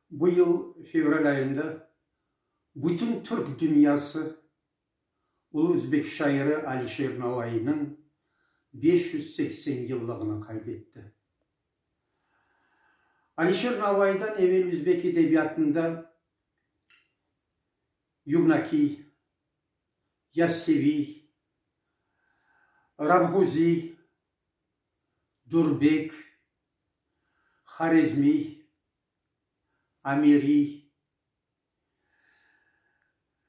Bu yıl fevral ayında bütün Türk dünyası ulu özbek şairi Alişer Navaynıñ beş yüz seksen yıllığını qayd etti. Alişer Navaydan evel özbek edebiyatında Yugnakiy, Yasseviy, Rabğuziy, Durbek, Horezmiy, Amiriy,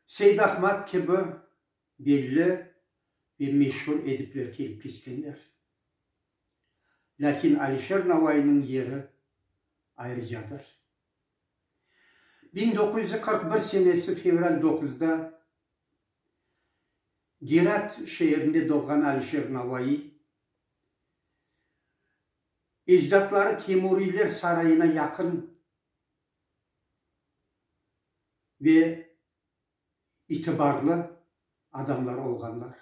Seydahmad kibi belli ve meşur edipler kelip keçkenler. Lâkin Alişer Navaynıñ yeri ayrıcadır. Biñ doquz yüz qırq bir senesi fevral doquzda Gerat şeerinde doğğan Alişer Navaiy, Ecdatları Temuriyler sarayına yaqın ve itibarlı adamlar olğanlar.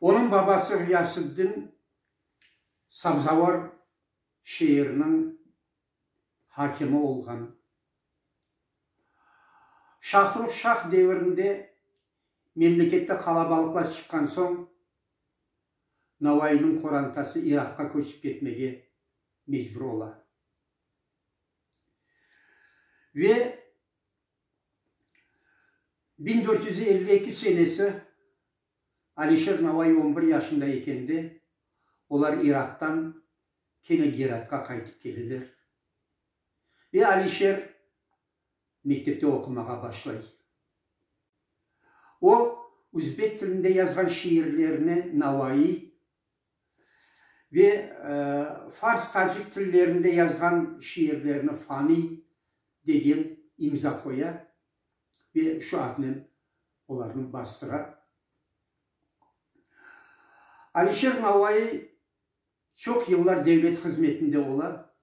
Onıñ babası Ğiyasıddin Sabzavar şeeriniñ hakimi olğan. Şahrux Şah devirinde Memlekette qalabalıqlar çıqqan soñ, Navaiyniñ qorantası İraqqa köçip ketmege mecbur ola. Ve biñ dört yüz elli eki senesi Alişer Navaiy on bir yaşında ekende, olar İraqtan kene Geratqa qaytıp keleler. Ve Alişer mektepte oqumağa başlay. O, üzbek tilinde yazğan şiirlerini navaiy ve fars-tacik tillerinde yazğan şiirlerini faniy degen imza qoya ve şu adnen olarnı bastıra. Alişer Navaiy Çoq yıllar devlet hızmetinde ola,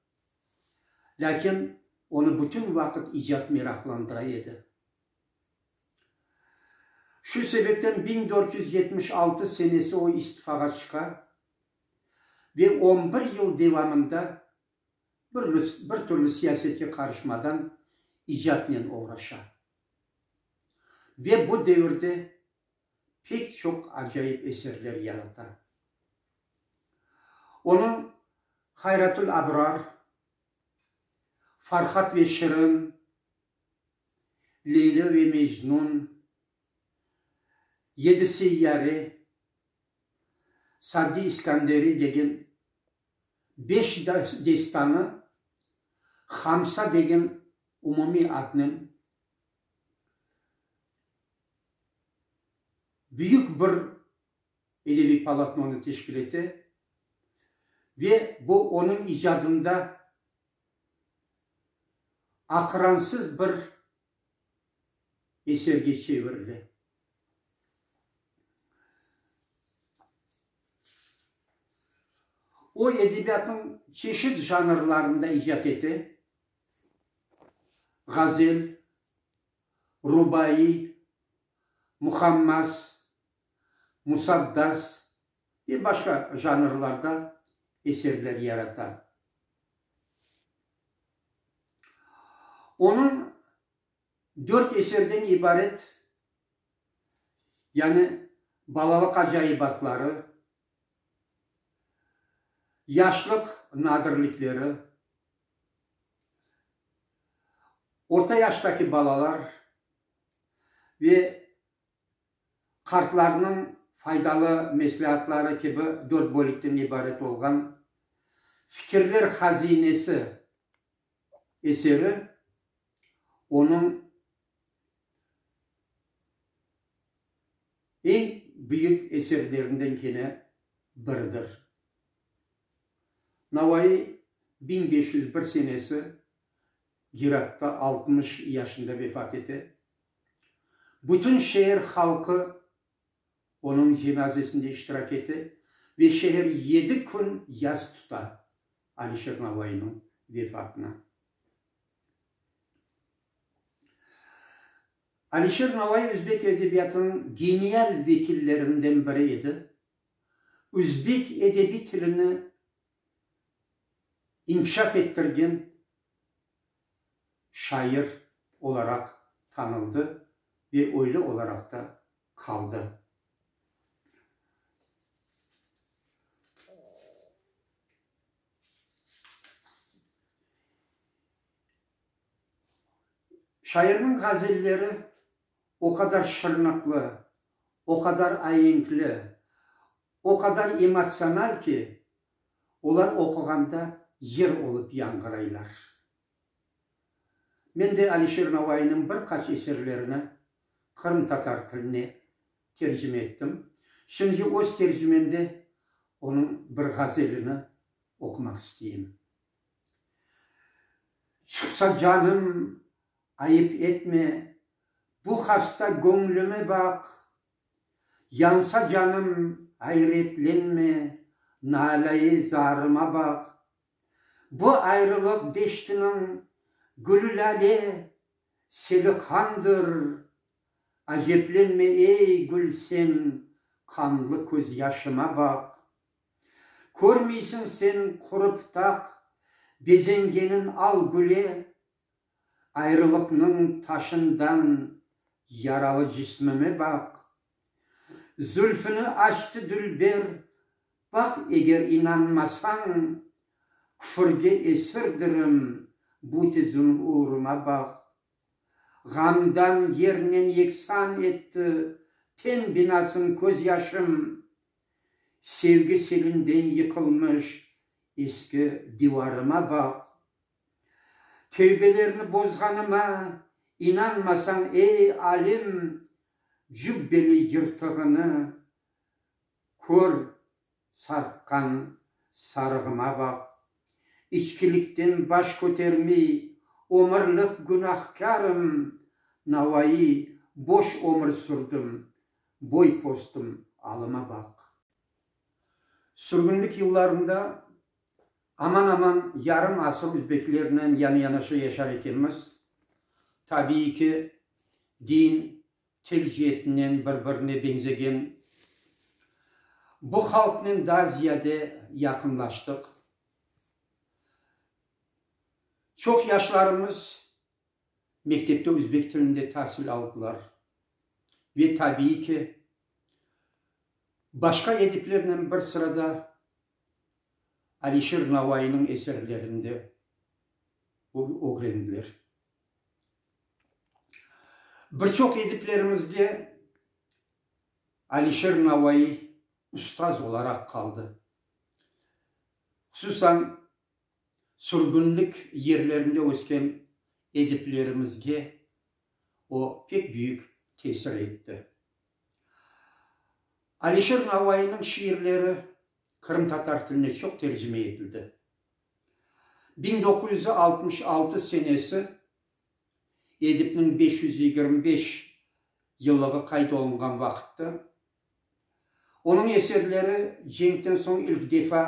lâkin onı bütün vaqıt icat meraqlandıra edi. Şu sebepten biñ dört yüz yetmiş altı senesi o istifağa çıqa ve on bir yıl devamında bir bir türlü siyasetke qarışmadan icatnen oğraşa. Ve bu devirde pek çoq acayip eserler yarata. Onı Hayratül Abrar, Farhad ve Şirin, Leylo ve Mecnun, Yedi seyyare, Saddi İskanderi degen beş destanı Hamsa degen umumiy adnen büyük bir edebiy polotnonı teşkil ete ve bu onıñ icadında aqıransız bir eserge çevirile. O, edebiyatnıñ çeşit janrlarında icat ete. Ğazel, rubaiy, muhammas, musaddas ve başqa janrlarda eserler yarata. Onıñ dört eserden ibaret, yani Balalıq acaybatları, Yaşlıq nadirlikleri, orta yaştaki balalar ve qartlarnıñ faydalı mesleatları kibi dört bölükten ibaret olğan Fikirler hazinesi eseri onıñ eñ büyük eserlerinden kene biridir. Navai biñ beş yüz bir senesi Giratta altmış yaşında vefat ete. Bütün şeer halqı onıñ cenazesinde iştirak ete ve şeer yedi kün yas tuta Alişer Navainiñ vefatına. Alişer Navai özbek edebiyatınıñ genial vekillerinden biri edi. Özbek edebiy tilini inkişaf ettirgen şair olaraq tanıldı ve öyle olaraq da qaldı. Şairniñ ğazelleri o qadar şırnıqlı, o qadar aenkli, o qadar emotsional ki, olar oquğanda yer olıp yanğıraylar. Men de Alişer Navaynıñ bir qaç eserlerini qırımtatar tiline tercime ettim. Şimdi öz tercimemde onıñ bir ğazelini oqumaq isteyim. Çıqsa canım, ayıp etme, Bu hasta göñlüme baq, Yansa canım, ayretlenme, Nalâ-i zarıma baq. Bu ayrılıq deştiniñ gülü-lâle, seli qandır. Aceblenme, ey, gül, sen qanlı közyaşıma baq. Körmeysiñ sen qurıp taq bezengenin al güle, Ayrılıqnıñ taşından yaralı cismime baq. Zülfüni açtı dülber, baq, eger inanmasañ, küfürge esirdirim, bu tizim uğruma baq. Ğamdan yernen yeksan etti ten binasıñ köz yaşım, sevgi selinden yıqılmış eski divarıma baq. Tevbelerini bozğanıma inanmasañ, ey, alem, cübbeli yırtığını kör, sarqqan sarığıma baq. İçkilikten baş kötermey, ömürlik günahkârım, navayı, boş ömür sürdim, boy-postım, alıma baq. Sürgünlik yıllarında Aman-aman yarım asır üzbeklernen yanı-yanaşa yaşar ekenmiz. Tabiiy ki, din, til ceetinden bir-birine beñzegen bu halqnen daa ziyade yaqınlaştıq. Çoq yaşlarımız mektepte üzbek tilinde tasil aldılar. Ve tabiiy ki, başqa ediplernen bir sırada Alişir Navaynıñ eserlerinde ögrendiler. Bir çoq ediplerimizde Alişir Navay ustaz olaraq qaldı. Hususan, sürgünlik yerlerinde ösken ediplerimizge o pek büyük tesir etti. Alişer Navaynıñ şiirleri qırımtatar tiline çoq tercime etildi. Biñ doquz yüz altmış altı senesi Edipniñ beş yüz yigirmi beş yıllığı qayd olunğan vaqıttı. Onıñ eserleri cenkten soñ ilk defa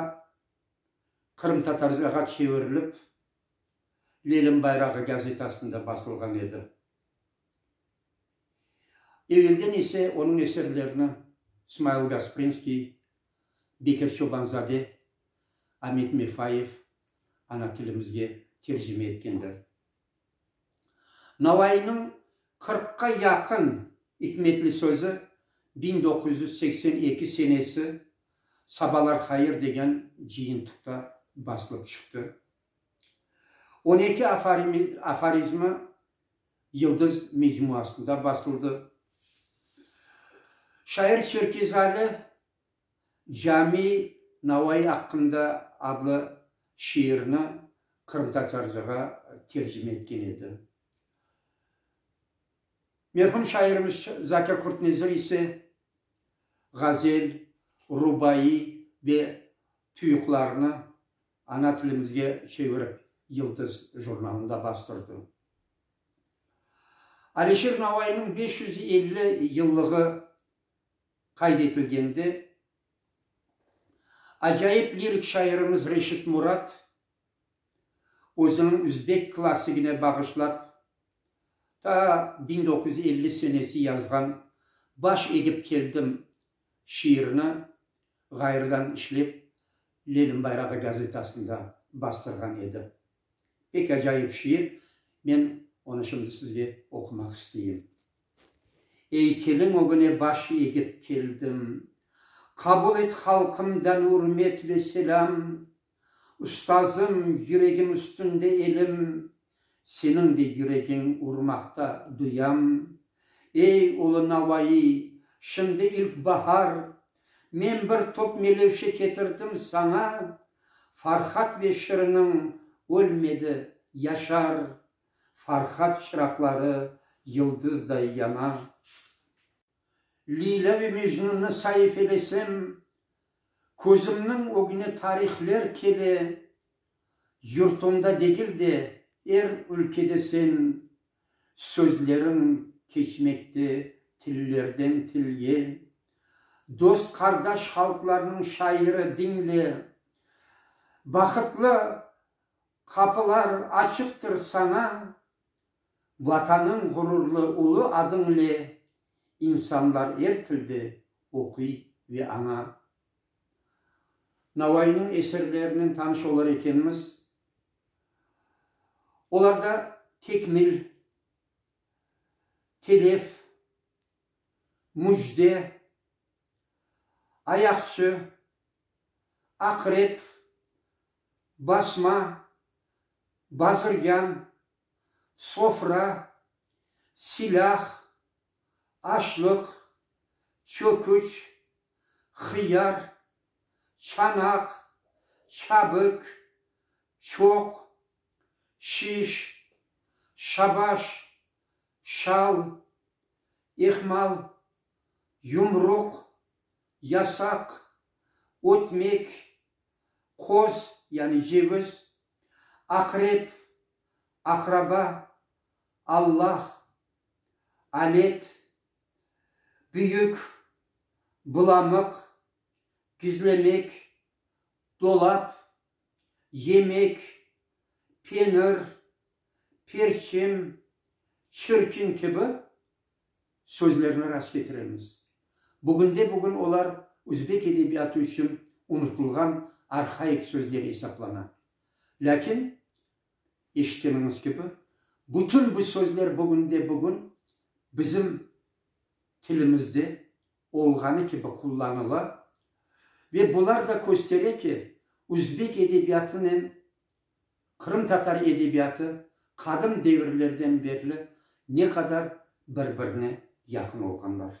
qırımtatarcağa çevirilip, Lelem bayrağı gazetasında basılğan edi. Evelden ise onıñ eserlerini Smail Gasprinskiy, Bekir Çobanzade, Amet Mefayev ana tilimizge tercime etkenler. Navaiyniñ qırqqa yaqın ikmetli sözü biñ doquz yüz seksen eki senesi Sabalar hayır degen cıyıntıqta basılıp çıqtı. On eki aforizmi Yıldız mecmuasında basıldı. Şair Çerkezali Cami Navai aqqında adlı şiirini qırımtatarcağa tercime etken edi. Merhum şairimiz Zakir Qurtnezir ise ğazel, rubai ve tüyuqlarını Ana tilimizge çevirip Yıldız jurnalında bastırdı. Aleşir Navaynıñ beş yüz elli yıllığı qayd etilgende, acayip lirik şairimiz Reşit Murat özüniñ üzbek klassigine bağışlap, ta biñ doquz yüz elli senesi yazğan Baş egip keldim şiirni ğayrıdan işlep Lenin bayrağı gazetasında bastırğan edi. Pek acayip şiir, men onı şimdi sizge oqumaq isteyim. Ey, kelin ögüne baş egip keldim. Qabul et halqımdan ürmet ve selâm. Ustazım, yüregim üstünde elim, Seniñ de yüregiñ urmaqta, duyam. Ey, ulu Navaiy, şimdi ilk bahar, Men bir top melevşe ketirdim saña, Farhad ve şiriniñ ölmedi, yaşar, Farhad çıraqları yıldızday yana. Leyla ve Mecnunnı saifelesem, Közümniñ ögüne tarihler kele, Yurtumda degil de, er ülkede sen Sözleriñ keçmekte tillerden tilge. Dost-qardaş halqlarnıñ şairi diñle, Bahıtlı Qapılar açıqtır saña, Vatanıñ ğururlı ulu adıñle insanlar er tilde oquy ve aña. Navaynıñ eserlerinen tanış olar ekenmiz. Olarda Tekmil, Telef, Müjde, Ayaqçı, Aqrep, basma, bazirgan, sofra, silâh, açlıq, çöküç, hıyar, çanaq, çabik, çoq, şiş, şabaş, şal, ehmal, yumruq, yasaq, ötmek, Köz, yani cevöz, aqrep, aqraba, Allah, alet, büyük, bulamıq, gizlemek, dolap, yemek, penir, perçem, çirkin kibi, sözlerni rast ketiremiz. Bugünde-bugün olar üzbek edebiyatı içün unutılğan arhaik sözler esaplana. Lâkin, eşitkeniñiz kibi, bütün bu sözler bugünde-bugün bizim tilimizde olğanı kibi qullanıla ve bular da köstere ki, üzbek edebiyatınen Qırımtatar edebiyatı qadım devirlerden berli ne qadar bir-birine yaqın olğanlar.